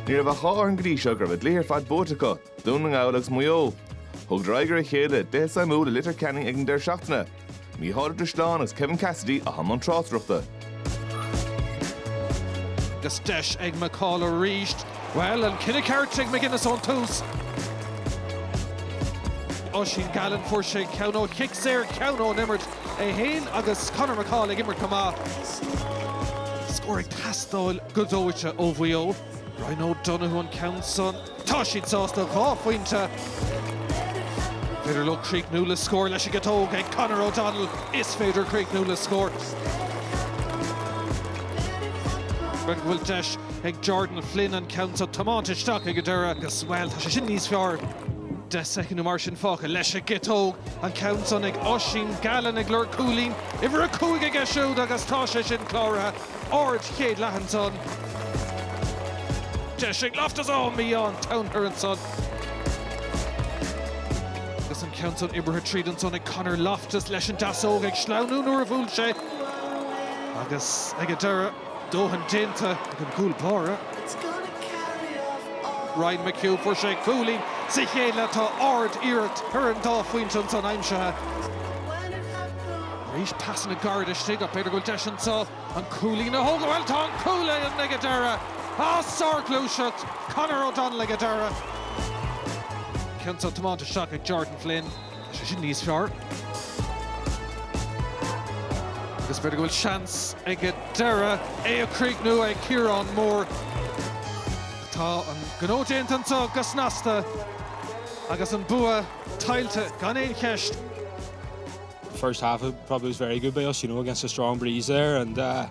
Ní raibh ach dhá fhoireann go dtí seo go raibh a gcluichí ar fad buaite acu, Dún na nGall agus Maigh Eo. Thugadar aghaidh ar a chéile i gcluiche suimiúil i Leitir Ceanainn ag an deireadh seachtaine. Mícheál Ó Drisleáin agus Kevin Cassidy a bhí i mbun tráchtaireachta. Agus deis ag McCahill arís. Bhuel, an cinneadh ceart ag McGuinness ón tús. Oisín Gallen, fuair sé ceann ó chic saor, ceann ón imirt. é féin agus Conor McCahill ag imirt go maith. Scór ag teastáil go dóite ó Mhaigh Eo. Ryan O'Donoghue an ceann san. Tá siad sásta dhá phointe. An féidir leo críochnú le scór leis an gciotóg ag Conor O'Donnell. Is féidir críochnú le scór. B'fhéidir go bhfuil deis ag Jordan Flynn an ceann san tiomáinte isteach ag an deireadh agus, bhuel, tá sé sin níos fearr. Deich soicind nó mar sin fágtha leis an gciotóg. An ceann san ag Oisín Gallen ag lorg cúilín uimhir a cúig aige siúd agus tá sé sin cláraithe. Ard-chéad leath ansan. Deis ag Loftus, á mí-ádh an domhain air ansan agus an ceann san oibrithe tríd ansan ag Conor Loftus leis an deasóg ag sleamhnú nuair a bhuail sé agus ag an deireadh. Dóthain déanta ag an gcúl báire, Ryan McHugh, fuair sé cúilín sa chéad leath, tá ard-iarracht ar an dá phointe ansan aimsithe arís, pasanna gairid istigh ach b'fhéidir go bhfuil deis anso an cúilín a thógáil, bhuel tá an cúilín ag an deireadh as sárghluaiseacht Conor O'Donnell ag an deireadh, ceann san tiomáinte isteach ag Jordan Flynn. Tá sé sin níos fearr. Agus b'fhéidir go bhfuil seans ag an deireadh é a chríochnú ag Ciarán Moore. Tá an gnó déanta anso go snasta agus an bua tuillte gan aon cheist. first half probably was very good by us, you know, against a strong breeze there. And, uh,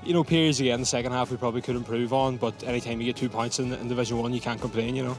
you know, periods again, the second half we probably could improve on. But anytime you get two points in, in Division 1, you can't complain, you know.